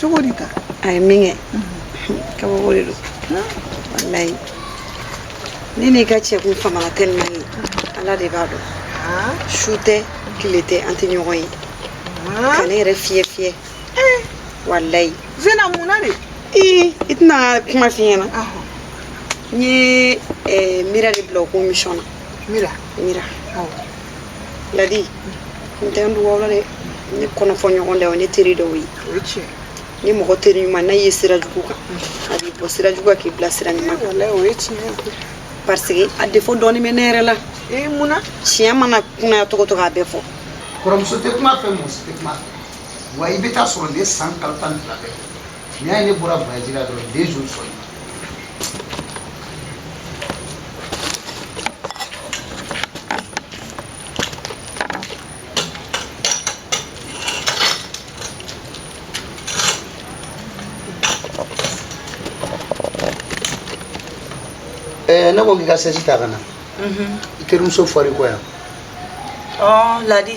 cogo di ta a ye min kɛ kabako de don walayi ne n'i ka cɛ kun famana tellement ala de b'a dɔn su tɛ tile tɛ an tɛ ɲɔgɔn ye ka ne yɛrɛ fiyɛ fiyɛ walayi zena mun na de i i tɛna kuma f'i ɲɛna n ye eh, mira de bila o ko mission na mira mira ladi n tɛ n dogo aw la dɛ ne kɔnɔ fɔ ɲɔgɔn de o ne teri dɔ ye ni mɔgɔ teri ɲuman n'a ye sira jugu kan a b'i bɔ sira jugu kan k'i bila sira ɲuman kan o ye tiɲɛ ye parce que a défaut dɔɔni bɛ ne yɛrɛ la ee mun na tiɲɛ mana kunaya cogo o cogo a bɛ fɔ kɔrɔmuso tɛ kuma fɛ muso tɛ kuma fɛ wa i bɛ t'a sɔrɔ ne san kalo tan ni fila bɛɛ N'i y'a ye ne bɔra baji la don toujours so Eh, ne ko k'i ka sɛsi ta ka na i terimuso fɔri kɔ yan ladi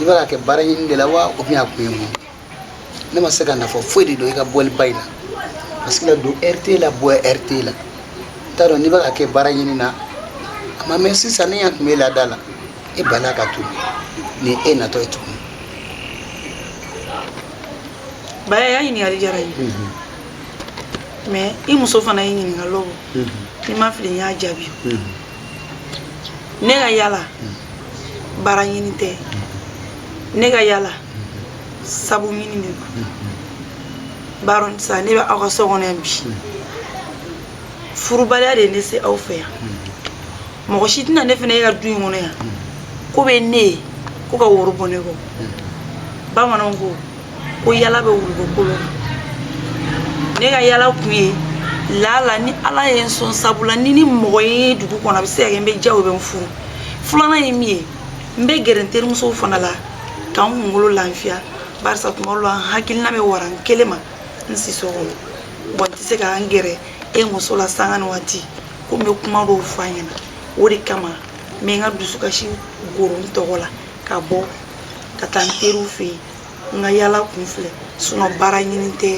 i b'a kɛ baara ɲini de la wa o bɛna kun ye mun ne ma se ka nafa foyi de dɔn i ka bɔliba in na parce que la don ɛri t'e la bɔ ɛri t'e la n t'a dɔn n'i bɛ k'a kɛ baara ɲini na a ma mɛn sisan ne y'a kunbɛn da la e bala ka to ni e natɔ ye tuguni ba i ya ɲininkali diyara n ye mɛ i muso fana ye ɲininkali bɔ ni n ma fili n y'a jaabi ne ka yala baara ɲini tɛ ne ka yala sabu ɲini de don barisa ne bɛ aw ka so kɔnɔ yan bi furubaliya de ye ne se aw fɛ yan mɔgɔ si tɛna ne fana ye aw ka du in kɔnɔ yan k'o bɛ ne kɔ ka woro bɔ ne kɔ bamananw ko ko yala bɛ wulu ko kolo ne ka yala kun ye lala ni ala ye n sɔn sabu la ni n ye mɔgɔ ye dugu kɔnɔ a bɛ se ka kɛ n bɛ diya o bɛ n furu filanan ye min ye n bɛ gɛrɛ n terimusow fana la ka n kunkolo lafiya barisa tuma dɔw la n hakilina bɛ wara n kelen ma n siso kɔnɔ bɔn n tɛ se ka n gɛrɛ e muso la sanga ni waati ko n bɛ kuma dɔw fɔ a ɲɛna o de kama n bɛ n ka dusukasi goro n tɔgɔ la ka bɔ ka taa n teriw fɛ yen n ka yala kun filɛ sinɔn baara ɲini tɛ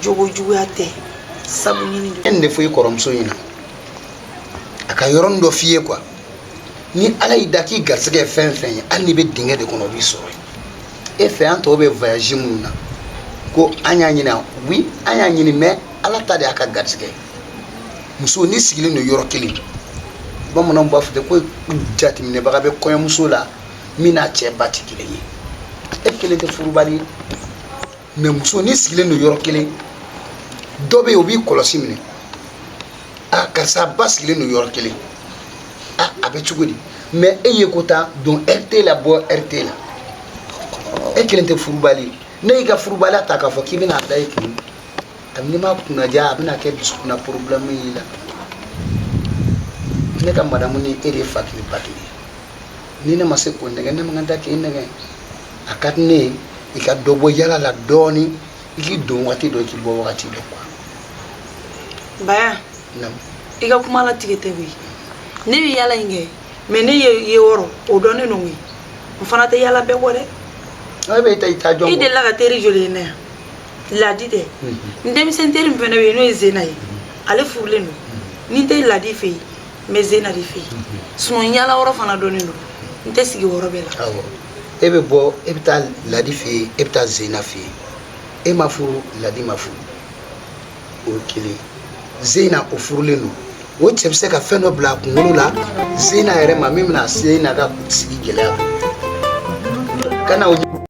jogo juguya tɛ sabu ɲini don nin de fɔ i kɔrɔmuso ɲɛna a ka yɔrɔnin dɔ f'i ye kuwa ni ala y'i da k'i garisɛgɛ ye fɛn fɛn ye hali n'i bɛ dingɛ de kɔnɔ o b'i sɔrɔ e fɛ an tɔw bɛ voyage minnu na ko an y'a ɲini wi an y'a ɲini mɛ ala ta de y'a ka garisɛgɛ muso n'i sigilen don yɔrɔ kelen bamananw b'a fɔ ten ko jateminɛbaga bɛ kɔɲɔmuso la min n'a cɛ ba tɛ kelen ye e kelen tɛ furubali ye mɛ muso n'i sigilen don yɔrɔ kelen dɔ bɛ yen o b'i kɔlɔsi minɛ a karisa basigilen don yɔrɔ kelen a a bɛ cogo di mɛ e ye ko ta don ɛri t'e la bɔ ɛri t'e la e kelen tɛ furubali ye ne y'i ka furubaliya ta k'a fɔ k'i bɛna a da i kun kabini ma kunna ja a bɛna kɛ dusukun na porobilɛmu y'i la ne ka madamu ni e de ye fa kelen ba kelen ni ne ma se k'o nɛgɛn ne man kan tɛ k'e nɛgɛn a ka di ne ye i ka dɔ bɔ yala la dɔɔni i k'i don wagati dɔn k'i bɔ wagati dɔn kuwa baya i ka kuma la tigɛ tɛ koyi ne bɛ yala in kɛ mɛ ne ye yɔrɔ o dɔnnen don koyi n fana tɛ yala bɛɛ kɔ dɛ e bɛ i ta i ta jɔn i delila ka teri joli ye ne yan ladi tɛ n denmisɛn teri fana bɛ yen n'o ye zena ye ale furulen don ni n tɛ ladi fɛ yen n bɛ zena de fɛ yen sinɔn yala yɔrɔ fana dɔnnen don n tɛ sigi yɔrɔ bɛɛ la e bɛ bɔ e bɛ taa ladi fɛ yen e bɛ taa zena fɛ yen e ma furu ladi ma furu o ye kelen zena o furulen don o cɛ bɛ se ka fɛn dɔ bila a kunkolo la zena yɛrɛ ma min bɛna zena ka sigi gɛlɛya kana o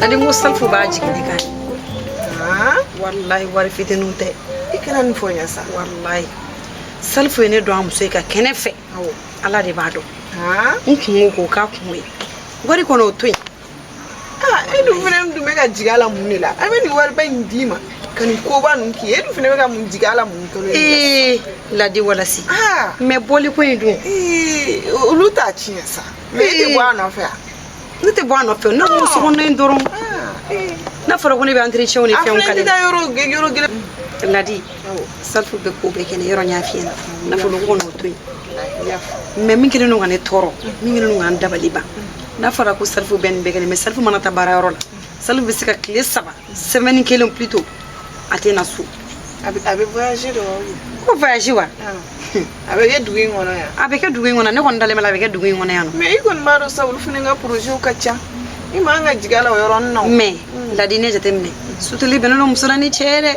ladi n ko salifu b'a jigin ne kan walayi wari fitinin tɛ i kana nin fɔ n ye sa walayi salifu ye ne dɔn a muso ye ka kɛnɛ fɛ ala de b'a dɔn n kunko k'o k'a kun ye wari ko n'o to yen e dun fana dun bɛ ka jigin a la mun de la a bɛ nin wariba in d'i ma ka nin koba ninnu k'i ye e dun fana bɛ ka mun jigin a la mun kalo ye ladi walasi mɛ bɔliko in dun olu t'a tiɲɛ sa mɛ e tɛ bɔ a nɔfɛ yan ne tɛ bɔ a nɔfɛ ne ko so kɔnɔ dɔrɔn n'a fɔra ko ne bɛ entretien ni fɛnw kale la yɔrɔ gɛlɛn ladi salifu bɛ ko bɛɛ kɛ ne yɔrɔ n y'a f'i ɲɛna nafolo ko n'o to yen mɛ min kelen don ka ne tɔɔrɔ min kelen don ka n dabali ban n'a fɔra ko salifu bɛ nin bɛɛ kɛ ne mɛ salifu mana taa baara yɔrɔ la Salifu bɛ se ka tile saba semaine kelen plutôt a tɛ na so a bɛ voyage de wa ko voyage wa a bɛ kɛ dugu in kɔnɔ yan a bɛ kɛ dugu in kɔnɔ ne kɔni dalen b'a la a bɛ kɛ dugu in kɔnɔ yan nɔ mais i kɔni b'a dɔn sa olu fana ka projets ka ca i man ka jigin a la o yɔrɔnin na mais ladi ne jateminɛ suteli bɛnnen don muso la ni cɛ ye dɛ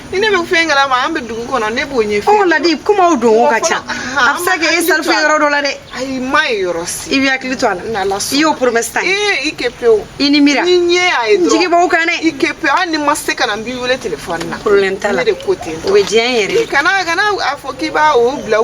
ni ne bɛ fɛn kalama an bɛ dugu kɔnɔ ne b'o ɲɛfɔ ɔ ladi kumaw donko ka ca a bɛ se ka kɛ e salifu ye yɔrɔ dɔ la dɛ ayi n m'a ye yɔrɔ si i b'i hakili to a la i y'o promesse ta ee i kɛ pewu i ni mira ni ɲɛ y'a ye dɔrɔn jigi b'aw kan dɛ i kɛ pewu hali ni n ma se ka na n b'i wele telefɔni na problème t'a la ne de ko ten o bɛ diya n yɛrɛ ye kana kana a fɔ k'i b'a o bila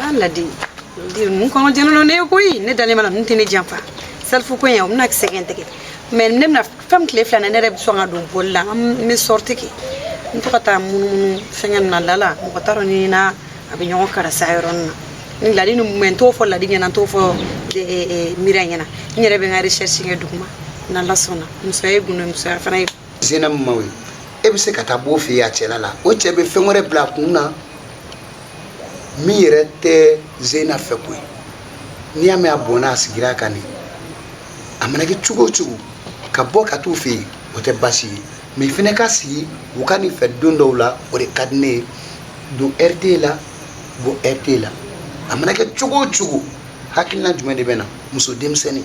An ladi ninnu kɔnɔ jɛnɛna ne ye koyi ne dalen b'a la ninnu tɛ ne janfa salifu ko in o bɛna sɛgɛn tigɛ mɛ ne bɛna fɛn tile fila na ne yɛrɛ bɛ sɔn ka don bɔli la n bɛ sortie kɛ n to ka taa munumunu fɛngɛ na lala mɔgɔ t'a dɔn ne n'a bɛ ɲɔgɔn karasa yɔrɔnin na ni ladi ninnu mɛ n t'o fɔ ladi ɲɛna n t'o fɔ miiriya ɲɛna n yɛrɛ bɛ n ka recherche kɛ duguma n'ala sɔnna musoya ye gundo musoya fana ye zena min maw ye e bɛ se ka taa b'o fɛ yen a cɛla la o cɛ bɛ fɛn wɛrɛ bila a kun na min yɛrɛ tɛ zena fɛ koyi n'i y'a mɛn a bɔnna a sigira a kan de a mana kɛ cogo o cogo ka bɔ ka t'u fɛ yen o tɛ baasi ye mɛ fɛnɛ ka sigi u ka nin fɛ don dɔw la o de ka di ne ye don ɛri t'e la bɔ ɛri t'e la a mana kɛ cogo o cogo hakilina jumɛn de bɛ na muso denmisɛnnin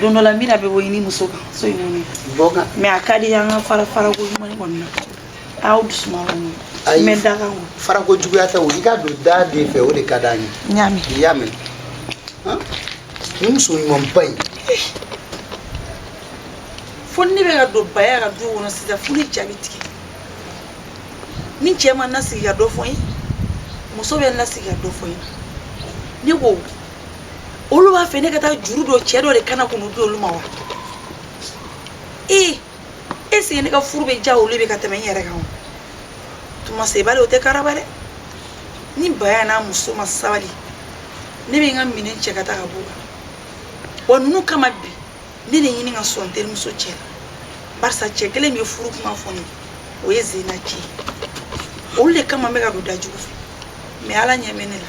don dɔ la n bɛna bɛ bɔ i ni muso kan so in kɔnɔ bɔ kan mɛ a ka di an ka fara farako ɲuman kɔni na aw dusuma kɔni Ayi. mɛ da kan kɔni farako juguya tɛ o i ka don da den fɛ o de ka d'an ye n y'a mɛn i y'a mɛn Han? nin muso ɲumanba in fo ni ne bɛ ka don baya ka du kɔnɔ sisan fo n ja bɛ tigɛ ni cɛ ma n lasigi ka dɔ fɔ n ye muso bɛ n lasigi ka dɔ fɔ n ye ne ko olu b'a fɛ ne ka taa juru don cɛ dɔ de kan na k'o nun di olu ma wa ee est-ce que ne ka furu bɛ diya olu bɛ ka tɛmɛ n yɛrɛ kan o tuma sabali o tɛ karaba dɛ ni baya n'a muso ma sabali ne bɛ n ka minɛn cɛ ka taa ka b'u kan wa ninnu kama bi ne de ɲini ka sɔn n terimuso cɛ la barisa cɛ kelen min ye furu kuma fɔ n ye o ye zena cɛ ye olu de kama n bɛ ka don dajugu fɛ mɛ ala ɲɛ bɛ ne la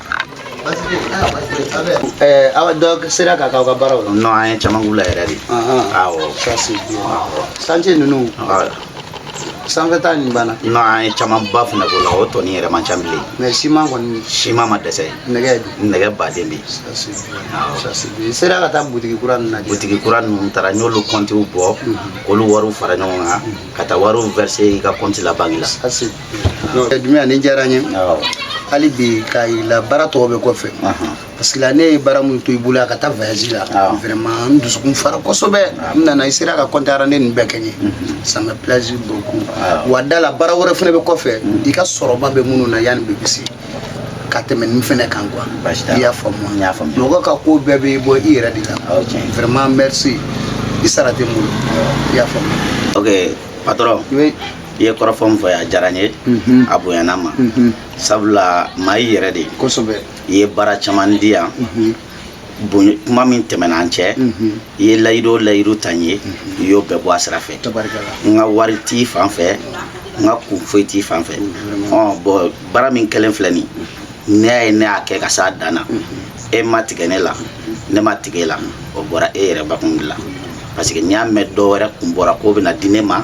awa dɔ sera ka k'aw ka baaraw la non an ye caman k'u la yɛrɛ de awɔ santiye ninnu sanfɛ ta nin banna non an ye camanba fana k'o la o tɔnin yɛrɛ man ca bilen mɛ siman kɔni siman ma dɛsɛ nɛgɛ nɛgɛ baden bɛ yen sera ka taa butigi kura ninnu lajɛ butigi kura ninnu taara n y'olu kɔntiw bɔ k'olu wariw fara ɲɔgɔn kan ka taa wariw verser i ka kɔnti la banki la Dunya nin diyara n ye hali bi k'a la baara tɔ bɛ kɔfɛ parce que ne ye baara min to i bolo ka taa vyaji la vraiment n dusukun fara kosɛbɛ n nana i sera ka kɔntara ni nin bɛɛ kɛ n ye ça me plaisir beaucoup wa d'a la baara wɛrɛ fana bɛ kɔfɛ i ka sɔrɔba bɛ minnu na yanni bɛ se ka tɛmɛ nin fana kan quoi i y'a faamu mɔgɔ ka ko bɛɛ bɛ bɔ i yɛrɛ de la vraiment merci i sara tɛ n bolo i y'a faamu ok patɔ i ye kɔrɔfɔ min fɔ a diyara n ye a bonyana n ma sabula maa i yɛrɛ de ye kosɛbɛ i ye baara caman di yan kuma min tɛmɛna an cɛ i ye layidu o layidu ta n ye i y'o bɛɛ bɔ a sira fɛ n ka wari t'i fan fɛ n ka kun foyi t'i fan fɛ bɔn baara min kɛlen filɛ nin ne y'a ye ne y'a kɛ ka s'a dan na e ma tigɛ ne la ne ma tigɛ e la o bɔra e yɛrɛ bakun de la parce que n y'a mɛn dɔ wɛrɛ kun bɔra k'o bɛna di ne ma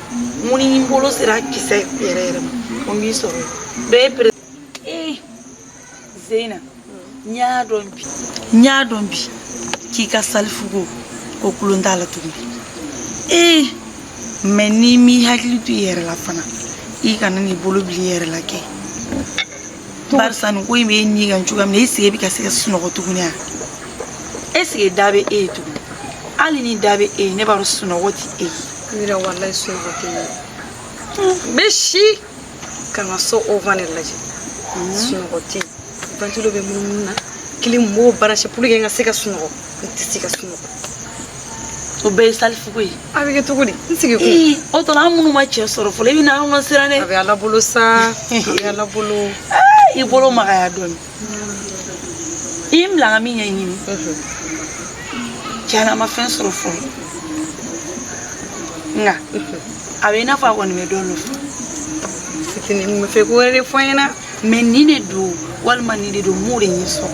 mun ni n bolo sera kisɛ yɛrɛ yɛrɛ ma o b'i sɔrɔ bɛɛ pere ee zeyina n y'a dɔn bi n y'a dɔn bi k'i ka salifuko ko tulon t'a la tuguni ee mɛ n'i m'i hakili to i yɛrɛ la fana i kana n'i bolo bil'i yɛrɛ la kɛ barisa nin ko in bɛ e ni kan cogoya min na est-ce que e bɛ ka se ka sunɔgɔ tuguni a est-ce que da bɛ e ye tuguni hali ni da bɛ e ye ne b'a dɔn sunɔgɔ tɛ e ye. ne yɛrɛ walayi sunɔgɔ tɛ ne ye. n bɛ si ka n ka so ovan de lajɛ sunɔgɔ tɛ yen ventilo bɛ munumunu na clim n b'o brancher pour que n ka se ka sunɔgɔ n tɛ se ka sunɔgɔ. o bɛɛ ye salifuko ye. a bɛ kɛ cogo di n sigi ko o tɔ an minnu ma cɛ sɔrɔ fɔlɔ i bɛ na anw lasiran dɛ a bɛ ala bolo sa a bɛ ala bolo i bolo magaya dɔɔni i ye n bila ka min ɲɛɲini tiɲɛ na a ma fɛn sɔrɔ fɔlɔ nka a bɛ i n'a fɔ a kɔni bɛ dɔ nɔfɛ fitinin bɛ fɛ ko wɛrɛ de fɔ n ɲɛna mɛ nin de don walima nin de don n m'o de ɲɛ sɔrɔ